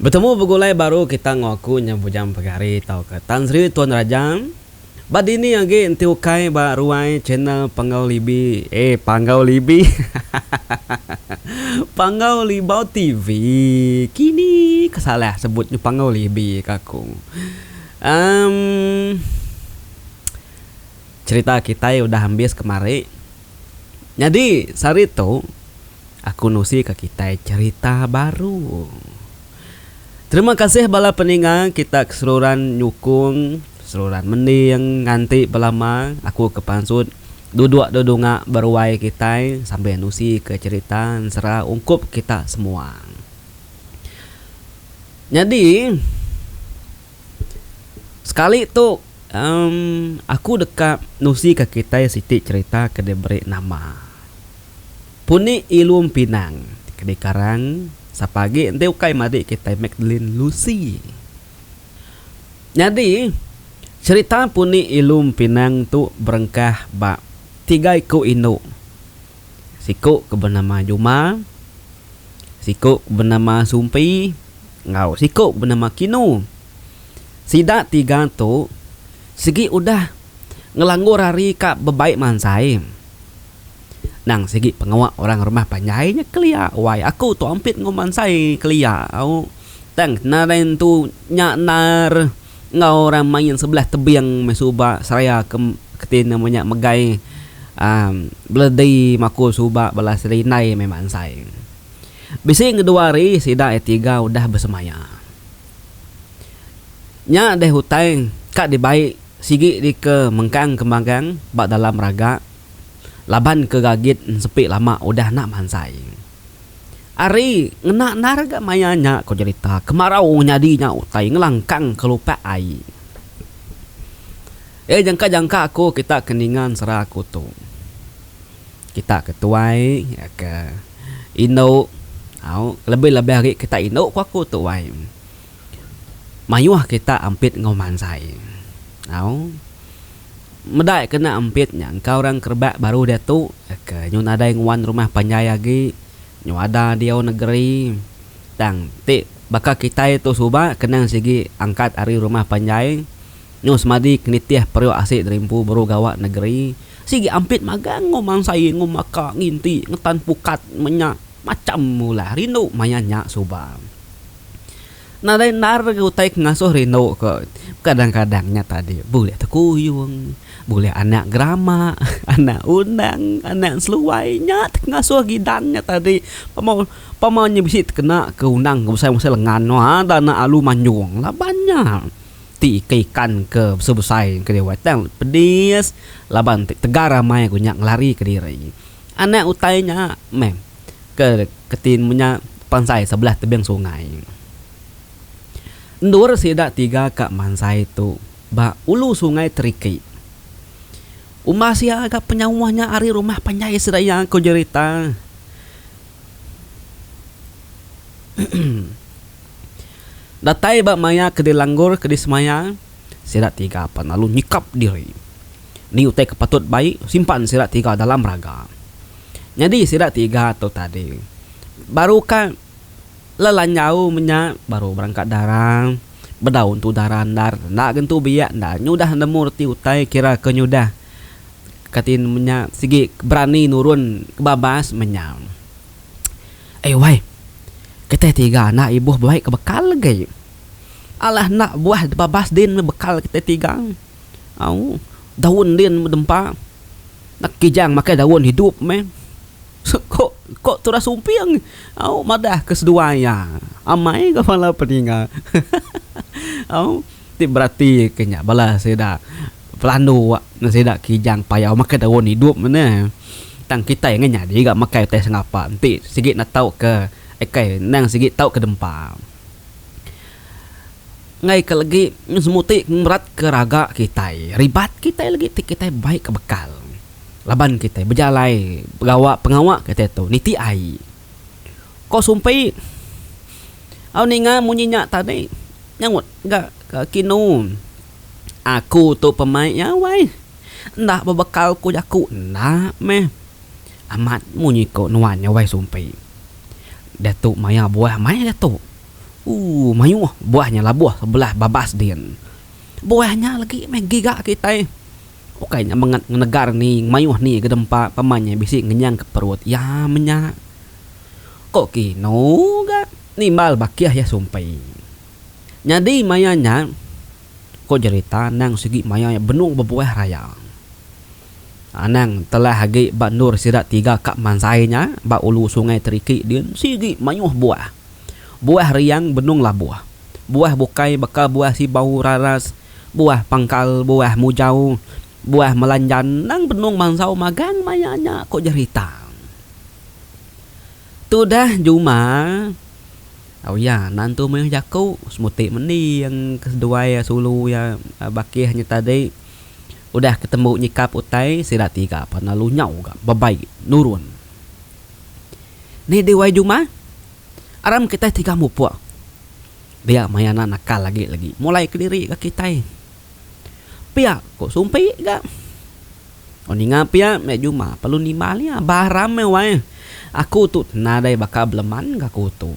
Betemu begulai baru kita enggau aku nya Bujang Pegari tauka Tan Sri Tuan Raja. Ba dini agi enti ukai ba ruai channel Panggau Libi, eh Panggau Libi, Panggau Libau TV, kini ke salah sebut nya Panggau Libi ka aku. Emm cherita kitai udah ambis kemari. Nyadi sehari tu aku nusi ka kitai cerita baru. Terima kasih bala peninga kita ke seruran nyukung seruran mending nganti belama aku ke pansut duduk da dunga beruai kitai sambil nusi ka cerita ensera ungkup kita semua. Nyadi sekali tu. Emm, aku deka nusika kitai siti cherita ke diberi nama Puni Ilum Pinang ke dikarang sapa agi enti ukai madik kitai Magdalene Lucy. Nyadi, cherita Puni Ilum Pinang tu berengkah ba tiga iku indu. Siku ke benama Juma, siku ke benama Sumpi enggau siku ke benama Kinu. Sida tiga tu sigi udah ngelanggur hari ka bebai mansai. Nang sigi pengawa orang rumah panjai nya kelia wai aku tu ampit enggau mansai kelia au tang kena lain tu nya endar enggau orang main sebelah tebing meh suba seraya ke kitai nama nya megai um beledi maku suba bala serindai meh mansai. Bisi ngeduari sida tiga udah besemaya. Nya deh utai ka dibai sigi dika mengkang ke magang ba dalam raga laban ke gagit ensepi lama udah enda mansai. Ari ngena endar ga maya nya ko jerita kemarau nyadi nya utai ngelangkang ke lupak ai. Iya jangka-jangka aku kita ke ninga ensera aku tu. Kita ke tuai ke indu au kelebih-lebih ari kita indu ku aku tuai mayuh kita ampit enggau mansai au meda iya kena ampit nya engka orang ke rebak baru diatu ke nyu nadai nguan rumah panjai agi nyu ada diau negeri tang ti baka kitai tu suba kenang sigi angkat ari rumah panjai. Nyau semadi ke nitih periuk asi dari empu baru gawa negeri, sigi ampit magang enggau mansai enggau maka nginti ngetan pukat menya macham ulah rindu maya nya suba. Nadai endar lagi utai ke ngasuh rindu ko, kadang-kadang nya tadi bulih tekuyung, bulih anak gerama, anak undang, anak seluai nya ti ke ngasuh gidan nya tadi pama pama nya bisi tekena ke undang ke besai-besai lengan no ada anak alu manjung laban nya. Ti ke ikan ke besai-besai engka dia uai tang pedis laban ti tegar amai ku nya ngelari ke diri. Anak utai nya meh ke keti mun nya pansai sebelah tebing sungai. Endur sida tiga ka mansai tu ba ulu sungai Teriki. Umbah sia ga penyauh nya ari rumah panjai sida iya ku jerita. Datai ba maya ke dilanggur ke disemaya, sida tiga pan lalu nyekap diri. Ni utai ke patut bai simpan sida tiga dalam raga? Nyadi sida tiga tu tadi baru ka lelanjau menya baru berangkat dara, bedau entu dara endar, enda ga entu biak endar nyudah nemu reti utai kira ke nyudah kati menya sigi berani nurun ke babas menya. Ai wai. Kitai tiga anak ibuh buai ke bekal agi. Alah enda buah babas din meh bekal kitai tiga. Au. Daun din meh dempa. Nak Kijang makai daun hidup meh. Ko ko Turas Umping au madah ke seduai iya. Amai ga bala peninga. Au ti berati ke nya bala sida. Pelandu wak ne sida kijang payau makai daun idup ne tang kitai angai nyadi ga makai utai sengapa enti sigi enda tau ke akai endang sigi tau ke dempa. Enggai ke legi meh semua ti ngerat ke raga kitai ribat kitai legi ti kitai bai ke bekal laban kitai bejalai begawa pengawa kitai tu niti ai. Ko Sumpi, Au ninga munyi nya tadi. Nyaut ga ka Kinu, Aku tu pemai iya wai. Enda bebekal ko jaku enda meh. Amat munyi ko nuan nya wai Sumpi. Diatu maya buah meh diatu. Ooh mayuh buah nya labuh sebelah babas din. Buah nya legi meh giga kitai. Ukai nya mengat ngenegar ni ngemayuh ni gedempa pama nya bisi ngenyangka perut iya menya. Ko Kino ga nimbal bakih iya sumpi. Nyadi maya nya, ko jerita anang sigi maya iya benung bebuah raya. Anang telah agi ba endur sida tiga ka mansai nya ba ulu Sungai Teriki din sigi mayuh buah. Buah riang benung labuh. Buah bukai baka buah sibau raras, buah pangkal, buah mujau, buah melanjan endang benung mansau magang maya nya, ku jerita. Tudah Juma, au iya nan tu meh jaku semuti mending ke seduai iya sulu iya bakih nya tadi udah ke tembu nyikap utai sida tiga pan lalu nyau ga bebai nurun. Ni di wai juma? Aram kitai tiga mupuk. Dia maya enda nakal agi lagi mulai kediri ga kitai. Pia ku Sumpi ga. Tau ninga pia meh juma perlu nimbal iya ba Aram meh wai. Aku tu nadai baka beleman ga aku tu.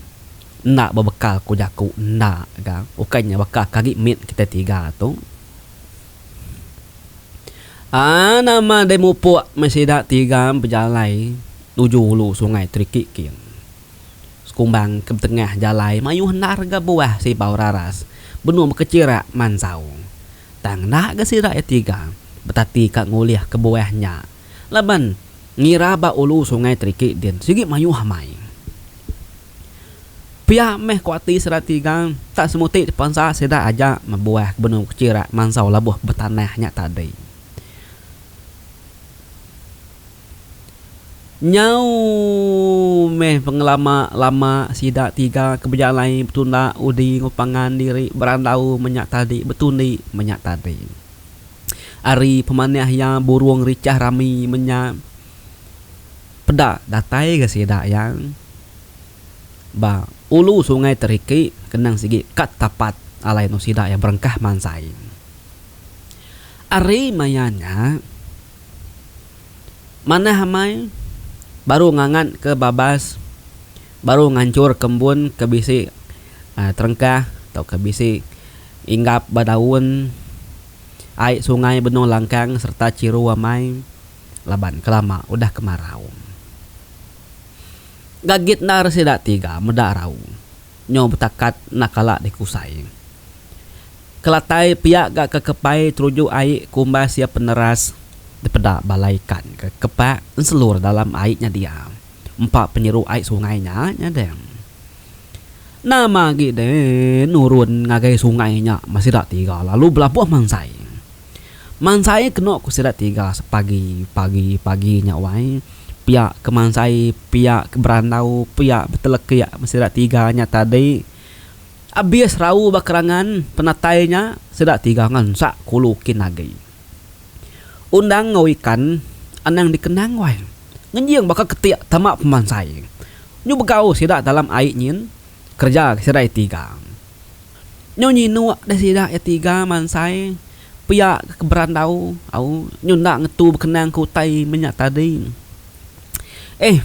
Enda bebekal ku jaku enda ga. Ukai nya baka ke agi mit kitai tiga tu. Aa nama deh mupuk meh sida ti gam bejalai nuju ulu sungai Trikik kin. Sekumbang ke betengah jalai mayuh enda rega buah sibau raras benung bekechirak mansau. Tang enda ga sida iya tiga betati ka ngulih ke buah nya laban ngira ba ulu sungai Trikik din sigi mayuh amai. Pia meh ku ati sida tiga, tak semuti dipansa sida aja mebuah ke benung kechira mansau labuh betanah nya tadi. Nyau meh pengelama lama sida tiga ke bejalai betunda udi enggau pangan diri berandau menya tadi betundi menya tadi. Ari pemanah iya burung richah rami menya. Peda datai ga sida iya ba ulu sungai Teriki kenang sigi ka tapat alai anu sida iya berengkah mansai. Ari maya nya manah amai baru ngangat ke babas baru nganchur kembun ke bisi terengkah tau ke bisi inggap ba daun ai sungai benung langkang serta chiru amai. laban kelama udah kemarau. Gagit endar sida tiga meda rau nyau betakat enda kala dikusai. Kelatai pia ga ke kepai teruju ai ku umbas iya peneras. Dipeda bala ikan ke kepak enselur dalam ai nya dia empa penyeru ai sungai nya nya deh. Nama agi deh nurun ngagai sungai nya meh sida tiga lalu belabuh mansai. Mansai keno ku sida tiga pagi pagi pagi nya wai pia ke mansai pia ke berandau pia betelekik meh sida tiga nya tadi abis rau ba kerangan penatai nya sida tiga ngansak kulu kin agi undang enggau ikan anang dikenang wai ngejing baka ketik tama pemansai nyu begau sida dalam ai nyin kerja sida tiga. Nyu nyinuk deh sida iya tiga mansai pia ke keberandau au nyu enda ngetu bekenang ke utai menya tadi. Eh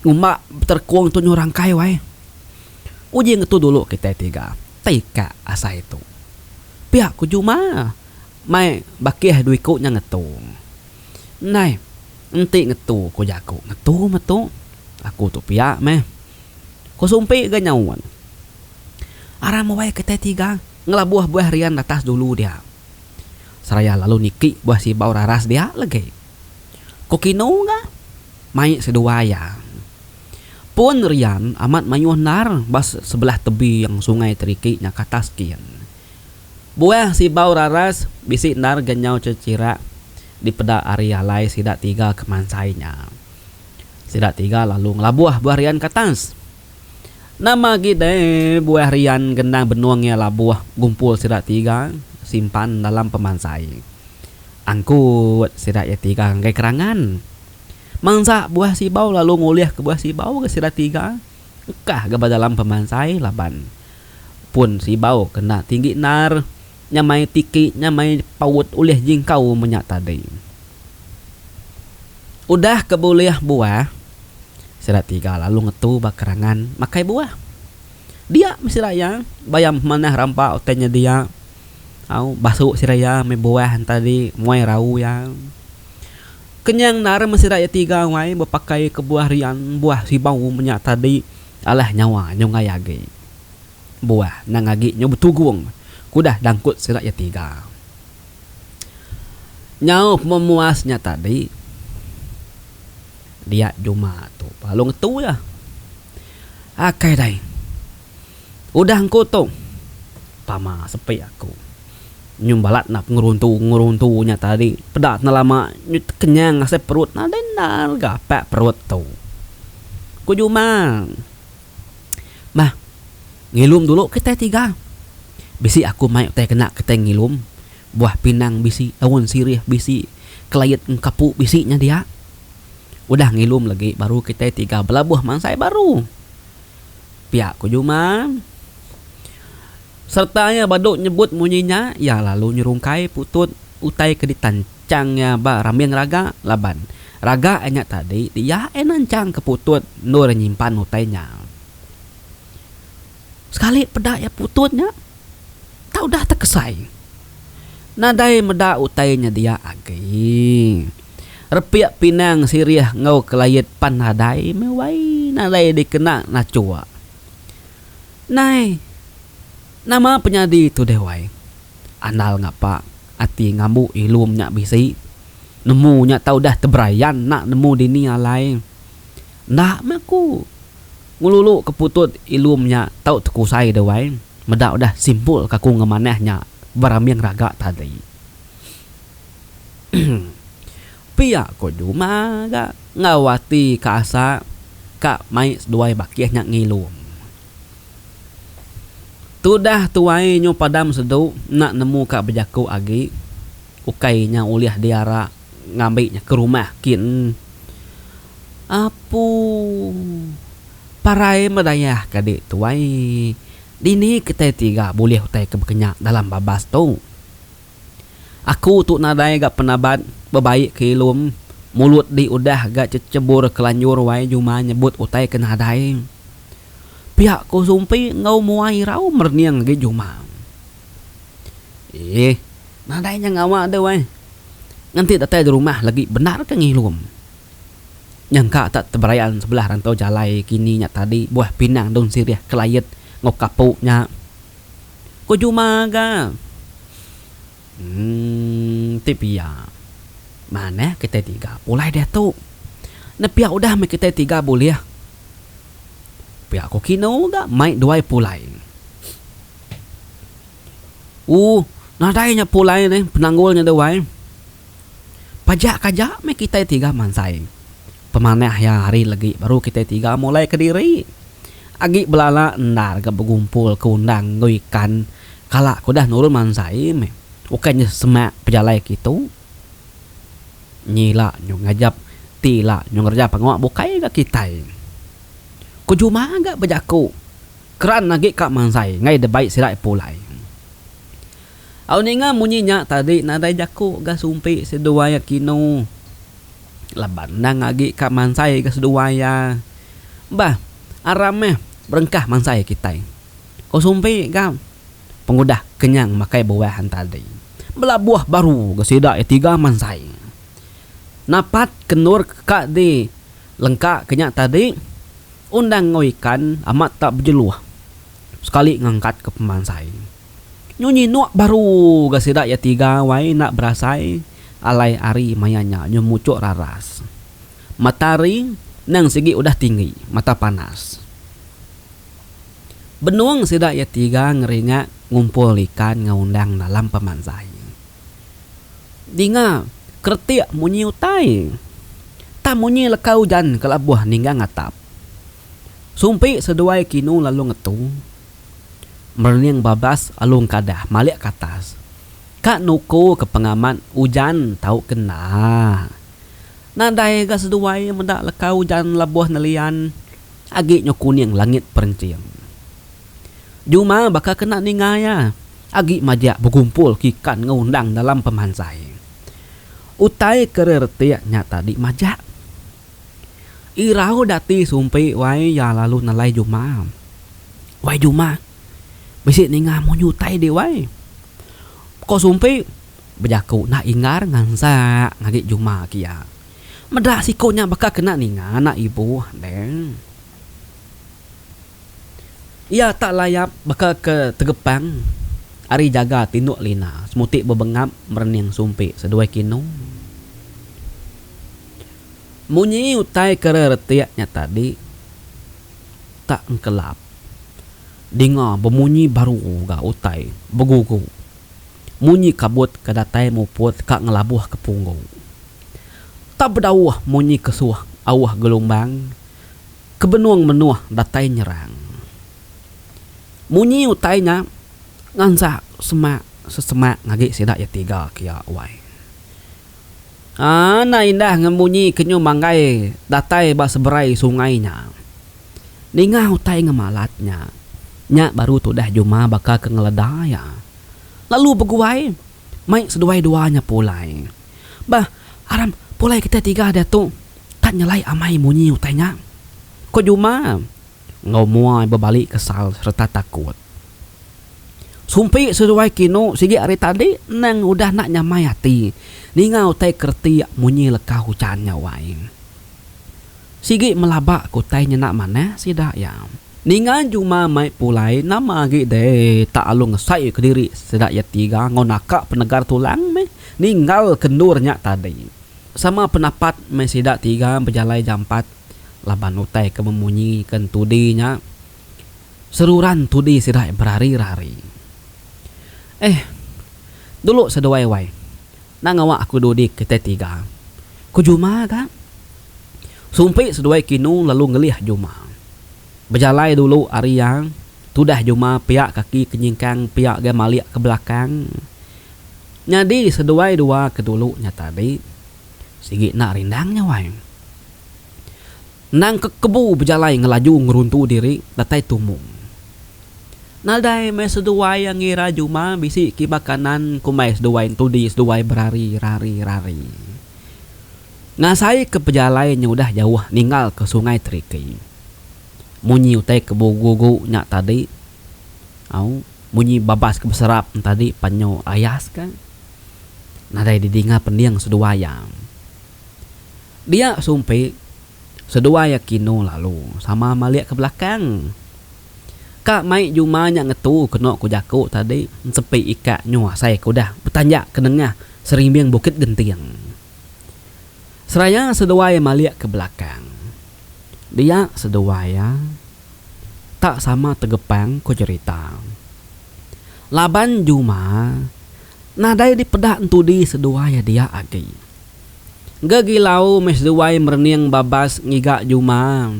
ngumba beterekung tu nyu rangkai wai. Uji ngetu dulu kitai tiga tei ka asai tu. Pia ku Juma mai bakih dua iku nya ngetu. Ndai enti ngetu ku jaku ngetu metu aku tu pia meh. Ko Sumpik ga nyaut. Aram awai kitai tiga ngelabuh buah rian ratas dulu dia. Seraya lalu niki buah sibau raras dia legi. Ko Kino ga mai seduai iya. Pun rian amat mayuh endar ba sebelah tebing sungai Teriki nya katas kin. Buah sibau raras bisi endar ga nyau cechirak dipeda ari alai sida tiga kemansai nya. Sida tiga lalu ngelabuh buah rian ke atas. Nama agi deh buah rian gendang benung iya labuh gumpul sida tiga simpan dalam pemansai. Angkut sida iya tiga ngagai kerangan. Mansa buah sibau lalu ngulih ke buah sibau ga sida tiga engkah ga ba dalam pemansai laban pun sibau kena tinggi endar. nyamai tiki nyamai paut ulih jingkau menya tadi. Udah ke bulih buah, sida tiga lalu ngetu ba kerangan makai buah. Dia meh sida iya, bayam manah rampa utai nyedia. Au, basu sida iya meh buah tadi, muai rau iya. Kenyang endar meh sida iya tiga wai bepakai ke buah rian, buah sibau menya tadi. Alah nyawa nyunggai agi. Buah nang agi nyau betugung ke udah dangkut sida iya tiga. Nyau pememuas nya tadi dia juma tu lalu ngetu iya. Akai dai. Udah engku tu tama sepi aku. Nyau balat enda pengeruntu-ngeruntu nya tadi peda enda lama nyau tekenyang asai perut nadai enda gapak perut tu. Ku juma. Mah, ngilum dulu kitai tiga. Bisi aku mai utai kena kitai ngilum. Buah pinang bisi, daun sirih bisi, kelayet engkapu bisi nya dia. Udah ngilum lagi baru kitai tiga belabuh mansai baru. Pia ku Juman. Sereta iya badu nyebut munyi nya, iya lalu nyerungkai putut utai ke ditan. Chang nya ba rambing raga laban raga nya tadi ti iya ena chang ke putut endur nyimpan utai nya. Sekali peda iya putut nya tau udah tekesai nadai meda utai nya dia agi. Repik pinang sirih enggau kelait pan nadai meh wai nadai dikena nachok. Nai nama penyadi tu deh wai. Andal ngapa. Ati ngambu ilum nya bisi. Nemu nya tau udah teberayan enda nemu dini alai. Enda meh aku ngelulu ke putut ilum nya tau tekusai deh wai. Meda udah simpul ke aku ngemanah nya berambing raga tadi. Pia ko juma ga enggau ati ke asa ka mai seduai bakih nya ngilum. Tudah tuai nyu padam sedu enda nemu ka bejaku agi ukai nya ulih diara ngambi nya ke rumah kin apu parai medayah ka di tuai dini kitai tiga bulih utai ke bekenya dalam babas tu. Aku tu nadai ga penabat bebaik ke ilum mulut di udah ga chechebur kelanjur wai juma nyebut utai ke nadai. Pia ku sumpi enggau mua irau merening agi juma. Eeh nadai nya ngawa deh wai. Ngenti datai di rumah lagi bendar ke ngilum. Nyangka tak teberayan sebelah rantau jalai kini nya tadi buah pinang daun sirih kelayet enggau kapu nya. Ko Juma ga. Emm ti pia. Manah kitai tiga pulai diatu. Nepia udah meh kitai tiga bulih. Pia ko Kino ga mai duai pulai. Ooh nadai nya pulai nih penanggul nya duai. Pajak kaja meh kitai tiga mansai. Pemanah iya hari legi baru kitai tiga mulai kediri agi belala endar ga begumpul ke undang enggau ikan kala ke udah nurun mansai meh ukai nyeh semak pejalai kitu nyila nyu ngajap ti ila nyu ngereja pengawa bukai ga kitai ku juma ga bejaku keran agi ka mansai ngai debai sida pulai. Au ninga munyi nya tadi nadai jaku ga sumpi seduai Akino laban endang agi ka mansai ga seduai iya. Bah aram meh berengkah mansai kitai. Ko sumpi ga pengudah kenyang makai buah entadi. Belabuh baru ga sida iya tiga mansai. Napat ke endur ka di lengka ke nya tadi undang enggau ikan amat tak bejeluh sekali ngangkat ka pemansai. Nyunyi nuak baru ga sida iya tiga wai enda berasai alai ari maya nya nyu muchuk raras. Matahari nang sigi udah tinggi mata panas. Benung sida iya tiga ngeringak ngumpul ikan enggau undang dalam pemanzai. Dinga keretik munyi utai. Tang munyi leka ujan kelabuh ninggang atap. Sumpi seduai kinu lalu ngetu. Merning babas alu engkadah malik ke atas. Ka nuku ke pengamat ujan tau kena. Nadai ga seduai meda leka ujan labuh nelian agi nyau kuning langit perenching. Juma baka kena ninga iya agi majak begumpul ke ikan enggau undang dalam pemansai. Utai ke reretik nya tadi majak. Irau dati sumpi wai iya lalu nelai Juma. Wai Juma, bisi ninga munyi utai dih wai. Ko sumpi, bejaku enda inggar ngansa ngagi Juma ke iya. Meda siku nya baka kena ninga anak ibu deh. Iya tak layap baka ke tegepang ari jaga tinduk lina semuti bebengap merening sumpi seduai kinu. Munyi utai ke reretik nya tadi tak engkelap dinga bemunyi baru ga utai begugu munyi kabut ke datai muput ka ngelabuh ke punggu. Tak bedauh munyi kesuh auh gelumbang. ke benung menuh datai nyerang. Munyi utai nya ngansak semak sesemak ngagi sida iya tiga kia wai. Ana indah ngan munyi ke nyu manggai datai ba seberai sungai nya. Ninga utai ngemalat nya, nya baru tudah Juma baka ke ngeleda iya lalu beguai. Mai seduai dua nya pulai. Bah, aram pulai kitai tiga diatu kat nyelai amai munyi utai nya. Ko Juma enggau mua bebali kesal sereta takut. Sumpi seduai kinu sigi ari tadi endang udah enda nyamai ati ninga utai ke reti munyi leka hujan nya wai. Sigi melaba ke utai nya enda manah sida iya. Ninga Juma mai pulai nama agi deh tak alu ngesai kediri sida iya tiga enggau naka penegar tulang meh ninggal ke endur nya tadi. Sama penapat meh sida tiga bejalai jampat laban utai ke memunyi ke entudi nya seruran entudi sida berari-rari. Eh dulu seduai wai. Enda ngawa aku dudi kitai tiga. Ku Juma ga. Sumpi seduai kinu lalu ngelih Juma. Bejalai dulu ari iya, tudah Juma pia kaki ke nyingkang pia gai malik ke belakang. Nyadi seduai dua ke dulu nya tadi. Sigi enda rindang nya wai. Endang ke kebu bejalai ngelaju ngeruntu diri datai tumu. Nadai meh seduai iya ngira Juma bisi kiba kanan, kumbai seduai entudi seduai berari, rari, rari. Ngasaika pejalai nya udah jauh ninggalka Sungai Terikei. Munyi utai ke bugu-gu nya tadi, au, munyi babas ke beserap nya tadi penyu ayas ka, nadai didinga pending seduai iya. Dia sumpi, seduai iya kinu lalu sama malik ke belakang. Ka mai juma nya ngetu kenu ku jaku tadi, ensepi ikak nyu asai ke udah betanjak ke nengah serimbing Bukit Genting. Seraya seduai malik ke belakang. Dia seduai iya tak sama tegepang ko jerita. Laban juma nadai dipeda entudi seduai iya dia agi. Engga gilau meh seduai merening babas ngiga juma.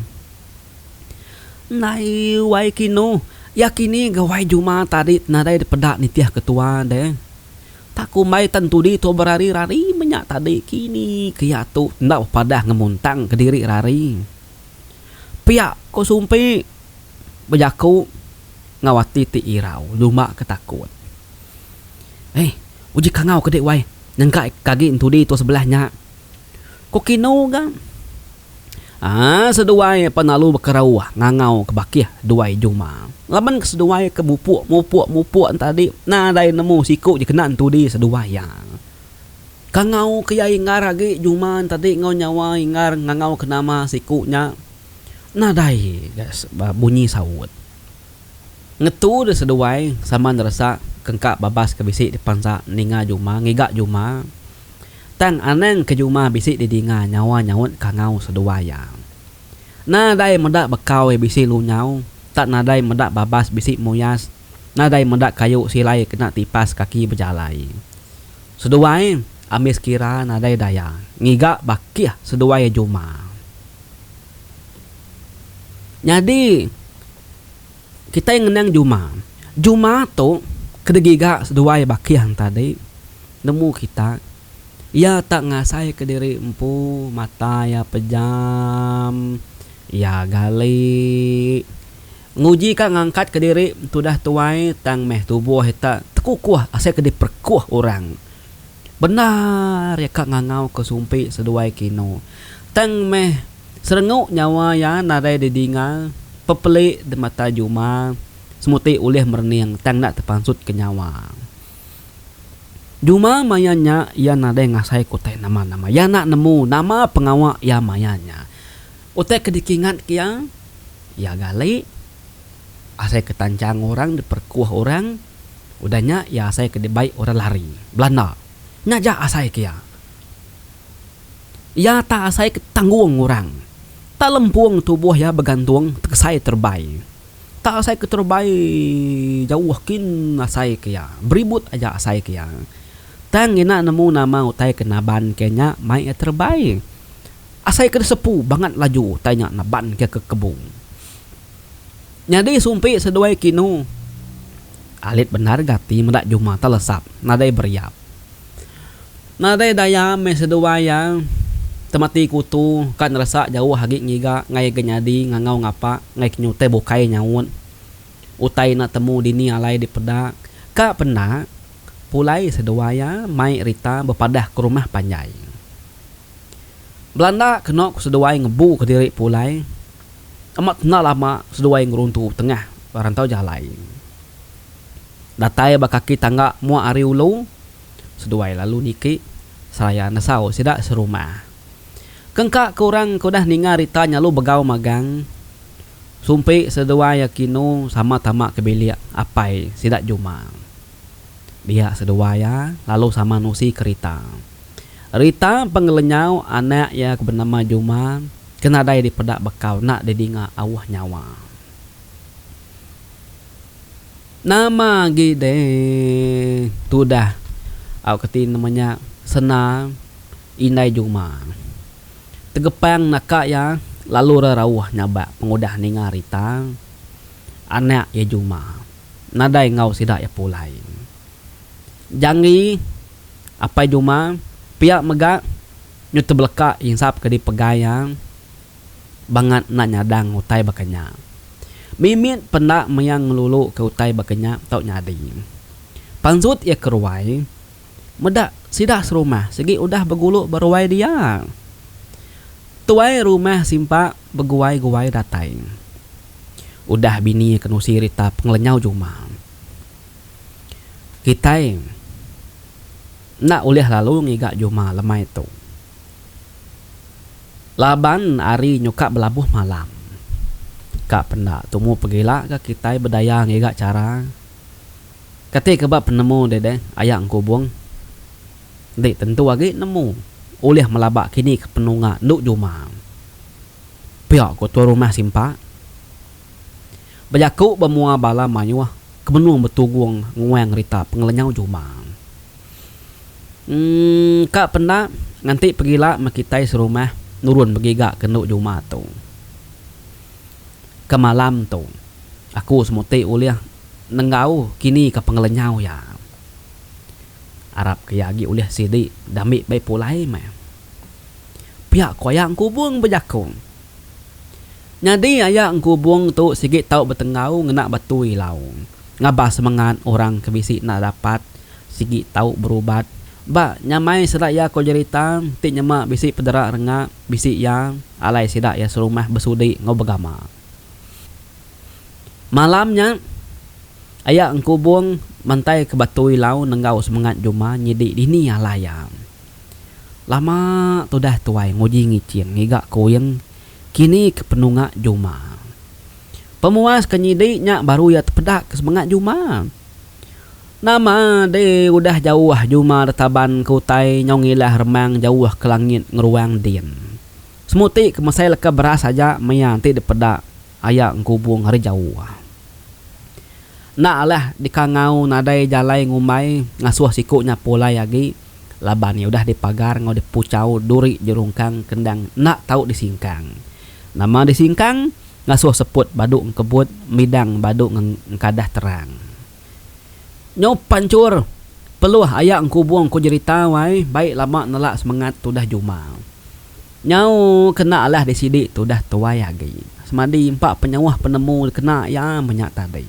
Ndai wai kinu, iya kini ga wai juma tadi nadai dipeda nitih ketua deh. Tak kumbai tan tudi tu berari rari menya tadi kini ke iya tu enda bepadah ngemuntang ke diri rari. Pia ko Sumpi bejaku ngau ati ti irau nyuma ke takut. Hei uji kangau ke dik wai nyengka ke agi entudi tu sebelah nya. Ko kinu ga. Aa seduai penalu bekerau ngangau ke bakih duai juma. Laban ke seduai ke mupuk mupuk mupuk entadi nadai nemu siku je kena entudi seduai iya. Kangau ke iya ingar agi juma entadi enggau nyawa ingar ngangau ke nama siku nya nadai ga bunyi saut. Ngetu deh seduai sama neresa ke engka babas ke bisi dipansa ninga juma ngiga juma. Tang anang ke jumah bisi didinga nyawa nyaut kangau seduai iya. Na dai meda bekau bisi lunyau, tak nadai meda babas bisi muyas, nadai meda kayu silai kena tipas kaki bejalai. Seduai ambis kira nadai daya ngiga bakih seduai jumah. Nyadi. Kitai ngenang Juma. Juma tu kedegiga seduai bakih tadi nemu kitai. Iya tak ngasai ke diri empu mata iya pejam, iya gali, nguji ka ngangkat ke diri tudah tuai tang meh tubuh ita tekukuh asai ke diperekuh orang. Bendar iya ka ngangauka sumpi seduai kino. Tang meh serengu nyawa iya nadai didinga pepeli di mata juma semuti ulih merening tang enda tepansutka nyawa. Juma maya nya iya nadai ngasai ke utai nama-nama. Iya enda nemu nama pengawa iya maya nya. Utai ke dikingatka iya, iya gali. asai ke tanchang orang diperkuh orang, udah nya iya asai ke dibai orang lari, belanda. Nya aja asai ke iya. Iya tak asai ke tanggung orang. Tak lempung tubuh iya begantung tegesai terebai. Tak asai ke terebai jauh kin asai ke iya. Beribut aja asai ke iya. Tang ngena nemu nama utai ke naban ke nya mai iya terebai. Asai ke disepu bangat laju tai nya neban ke ke kebung. Nyadi sumpi seduai kinu. Alit bendar gati meda juma telesap nadai beriap. Nadai daya meh seduai iya temati kutu ka neresa jauh agi ngiga ngai ke nyadi ngangau ngapa ngai ke nyutai bukai nyaut utai enda temu dini alai dipeda ka penda pulai seduai iya mai rita bepadah ke rumah panjai. Belanda kena ku seduai ngebu ke diri pulai amat tenda lama seduai ngeruntu tengah rantau jalai. Datai ba kaki tangga mua ari ulu seduai lalu niki seraya nesau sida serumah. Kengka ke orang ke udah ninga rita nya lu begau magang sumpi seduai akinu sama tama ke bilik apai sida juma. Dia seduai iya lalu sama nusi kerita. Rita pengelenyau anak iya ke benama Juma ke nadai dipeda bekau enda didinga auh nyawa. Nama agi deh tudah au ke ti nama nya Sena indai Juma tegepang naka iya lalu ra rauh nyabak pengudah ninga Rita anak iya Juma nadai enggau sida iya pulai. Janggi. Apai Juma pia mega nyu tebeleka insap ke dipegai iya bangat enda nyadang utai baka nya. Mimit penda maya ngeluluka utai baka nya tau nyadi. Pansut iya ke ruai meda sida serumah sigi udah begulu ba ruai dia. Tuai rumah simpa beguai-guai datai. Udah bini ke nusi rita pengelenyau Juma. Kitai enda ulih lalu ngiga juma lemai tu laban hari nyuka belabuh malam. Ka penda tumu pegila ga kitai bedaya ngiga chara. Kati ke ba penemu deh deh aya engkubung? Enti tentu agi nemu ulih melaba kini ke penunga endu juma. Pia ku tuai rumah Simpak. Bejaku ba mua bala mayuh ke benung betugung nguang rita pengelenyau juma. Emm ka penda nganti pegila meh kitai serumah nurun begiga ke endu juma tu. Ke malam tu aku semuti ulih nenggau kini ka pengelenyau iya. Arap ke iya agi ulih sidi diambi bai pulai meh. Pia ku aya engkubung bejaku. Nyadi aya engkubung tu sigi tau betenggau ngena batui lau. Ngabah semengat orang ke bisi enda dapat sigi tau berubat. Ba nyamai sida iya ko jerita ti nyema bisi pedera renga bisi iya alai sida iya serumah besudi enggau begama. Malam nya aya engkubung mantai ke batui lau nenggau semengat juma nyidi dini alai iya. Lama tudah tuai nguji ngicing ngiga kuing. kini ke penunga juma. Pemuas ke nyidi nya baru iya tepeda ke semengak juma. Nama deh udah jauh juma detaban ke utai nyau ngilah remang jauh ke langit ngeruang din. Semuti ke mesai leka beras aja maya enti dipeda aya engkubung ari jauh. Enda alah dikangau nadai jalai ngumbai ngasuh siku nya pulai agi. Laban iya udah dipagar enggau dipuchau duri jerungkang ke endang enda tau disingkang. Nama disingkang? Ngasuh seput badu engkebut midang badu engkadah terang. Nyau panchur! Peluh aya engkubung ku jerita wai, bai lama nela semengat tudah juma. Nyau ke enda alah disidi tudah tuai agi. Semadi empa penyauh penemu dikena iya menya tadi.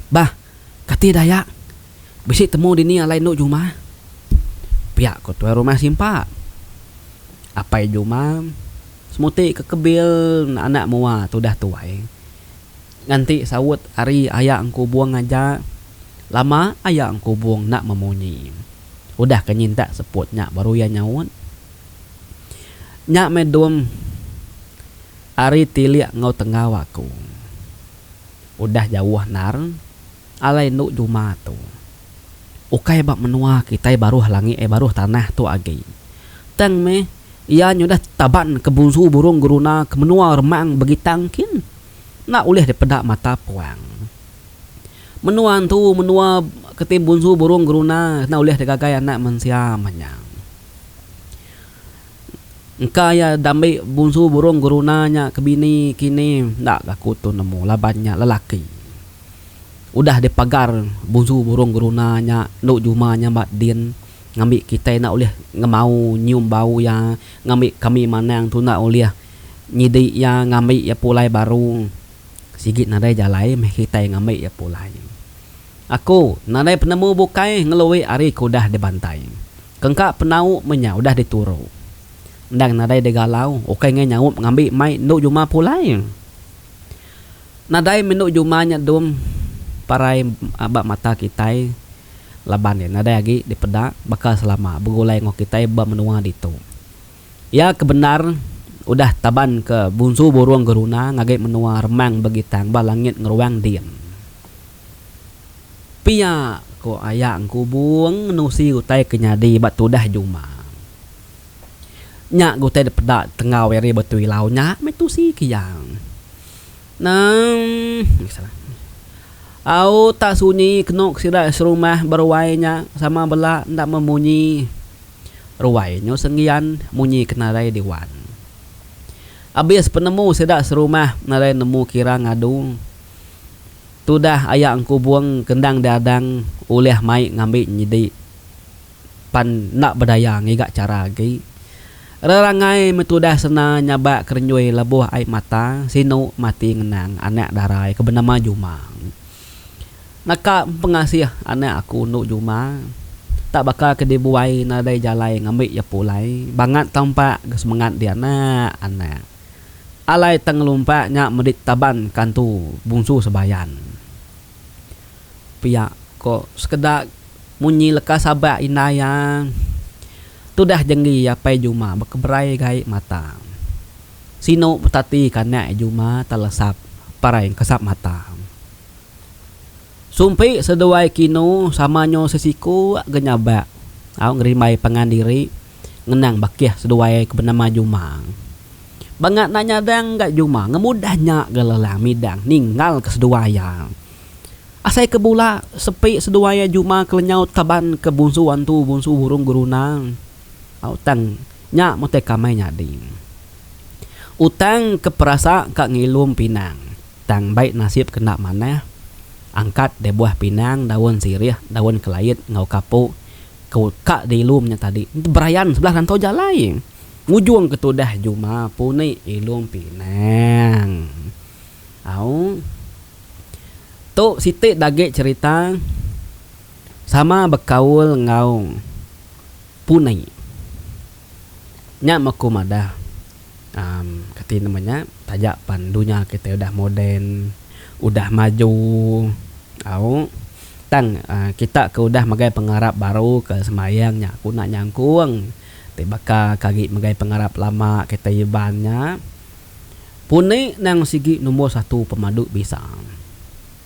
Bah, kati daya? Bisi temu dini alai enu Jumah? Piak ko tuai rumah simpa. Apai Jumah semuti ke kebil anak mua tudah tuai. Nganti saut ari aya engkubung aja lama aya engkubung enda memunyi. Udah ke nyintak seput nya baru iya nyaut. Nya meh dum ari tilik enggau tenggau aku. Udah jauh endar. Alai endu juma tu. Ukai ba menua kitai baruh langit eh baruh tanah tu agi. Tang meh, iya nyudah taban ke bunsu burung geruna ke menua remang begitang kin enda ulih dipeda mata puang. Menua entu menua ke ti bunsu burung geruna enda ulih digagai anak mensia manyang. Engka iya dambi bunsu burung guruna nya ke bini kini enda aku tu nemu laban nya lelaki. Udah dipagar bunsu burung guruna nya endu juma nyambat din ngambi kitai enda ulih ngemau nyium bau iya ngambi kami manang tu enda ulih nyidi iya ngambi iya pulai baru sigi nadai jalai meh kitai ngambi iya pulai. Aku, nadai penemu bukai ngelui ari ke udah dibantai. Kengka penau menya udah dituru. Endang nadai digalau, ukai ngai nyaup ngambi mai endu juma pulai. Nadai meh endu juma nya dum parai ba mata kitai laban iya nadai agi dipeda baka selama begulai enggau kitai ba menua ditu. Iya ke bendar udah taban ke bunsu burung geruna ngagai menua remang begitang ba langit ngeruang din. Pia ko aya engkubung menusi utai ke nyadi ba tudah juma. Nya utai dipeda tenggau ari Batu Ilau nya meh tusi ke iya. Nang Au tak sunyi kenu ke sida serumah beruai nya sama bela enda memunyi. Ruai nyu senggian munyi kenarai diwan. Abis penemu sida serumah narai nemu kira ngadu. Tudah aya engkubung kendang diadang ulih mai ngambi nyidi pan enda bedaya ngiga chara agi. Rerangai meh tudah sena nyabak kerenjui lebuh ai mata sinu mati ngenang anak darai ke benama Jumang. Naka empengasih anak aku endo juma tak baka ke dibuai nadai jalai ngambi iya pulai bangat tau empak ga semengat dianak anak alai tang lalu empak nya medi taban kantu bungsu sebayan pia ko sekeda munyi leka sabak indai iya tudah jenggi iya apai juma bekeberai gai mata. Sinu betati kanak juma telesap parai engkesap mata. Sumpi seduai kinu sama nyu sesiku ga nyabak au ngerimbai pangan diri ngenang bakih seduai ke benama juma. Bangat enda nyadang ga juma ngemudah nya ga lelang midang ninggal ke seduai iya. Asai ke bula sepi seduai iya juma ke lenyau taban ke bunsu antu bunsu burung guruna. Au tang nya mutai kamai nyadi. Utang ke perasa ka ngilum pinang tang bai nasib kena manah angkat deh buah pinang daun sirih daun kelait enggau kapu ke ka diilum nya tadi berayan sebelah rantau jalai ngujung ke tudah juma puni ilum pinang. Au tu siti dagi cerita sama bekaul enggau. Punai. Nya meh aku madah um kati nama nya taja pan dunya kitai udah moden, udah maju au tang kita ke udah magai pengarap baru ke sembahyang nya aku enda nyangkung ti baka ke agi magai pengarap lama kitai iban nya punai nang sigi nombor satu pemadu bisa.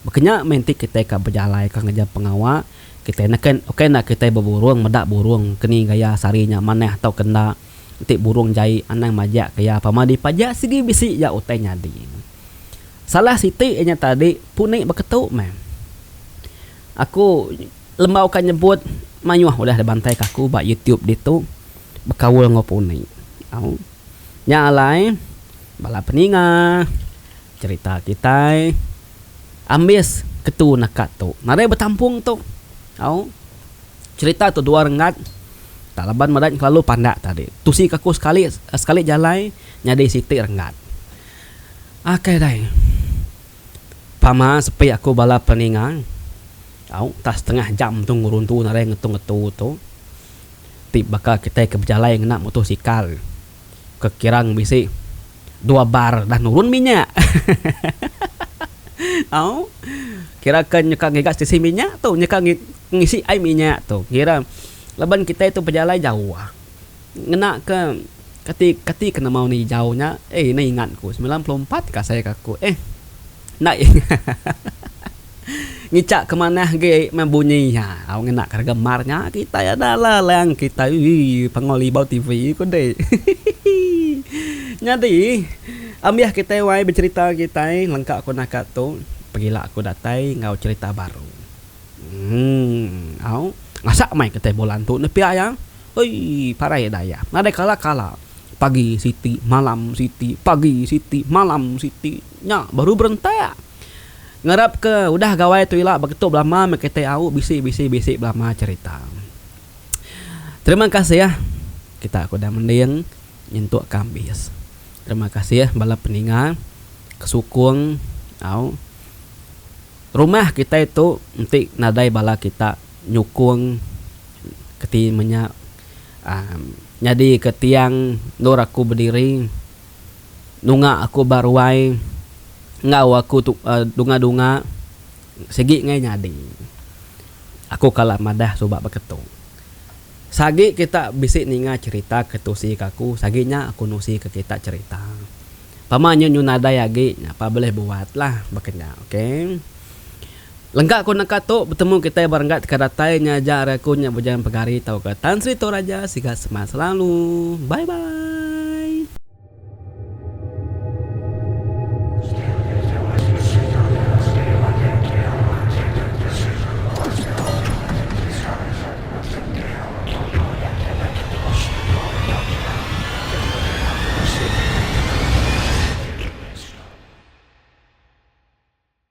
Baka nya meh enti kitai ka bejalaika ngajar pengawa. Kitai neka ukai enda kitai beburung meda burung ke ni gaya sehari nya manah tauka enda. Enti burung jai anang majak ke iya pama dipajak sigi bisi iya utai nyadi. Salah siti iya nya tadi puni beketu meh. Aku lembau ka nyebut mayuh udah dibantai ka aku ba youtube ditu bekaul enggau puni. Au. Nya alai bala peninga cerita kitai. Ambis ketu naka tu. Nadai betampung tu. Au. Cerita tu dua renggat. Tak laban merat kelalu pandak tadi. Tusi kaku sekali sekali jalai nyadi siti renggat. Akai dai. Pama sepi aku bala peninga. Au. Entah setengah jam tu ngeruntu nadai ngetu-ngetu tu. Ti baka kitai ke bejalai ngena mutosikal. Ke kirang bisi dua bar dah nurun minyak. Au. Kira ke nyeka ngiga stesen minyak tu nyeka ngisi ai minyak tu kira laban kitai tu bejalai jauh ngena ke kati kati ke nama orang hijau nya. Ai ina ingat ku semilan puluh empat ka asai ka ku eh. Ndai. Ngichak ke manah agi meh bunyi nya. Au ngena ke rega mar nya kitai ada lah lang kitai uii pengau libau TV ku deh. Nyadi ambih kitai wai becherita kitai lengka ku naka tu pegila aku datai enggau cherita baru. Emm au ngasak meh kitai bulan tu nepi aya. Uii parai daya nadai kala-kala pagi siti malam siti pagi siti malam siti. Nya baru berentak. Ngarapka udah gawai tu ila beketu belama meh kitai au bisi bisi bisi belama cherita. Terima kasih kita ke udah mending nyentuk ka ambis. Terima kasih bala peninga ke sukung au rumah kitai tu enti nadai bala kita nyukung keti menya aaa nyadika tiang endur aku bediri nunga aku ba ruai enggau aku tu dunga-dunga sigi ngai nyadi aku kala madah suba beketu sagi kita bisi ninga cerita ke tusi ke aku sagi nya aku nusi ke kita cerita pama nyu nyu nadai agi nya pa beleh buat lah baka nya okay. Lengka ku naka tu, betemu kitai ba renggat ka datai nya aja ari aku nya Bujan Pegari tauka Tan Sri Toraja siga semak selalu. Bye bye.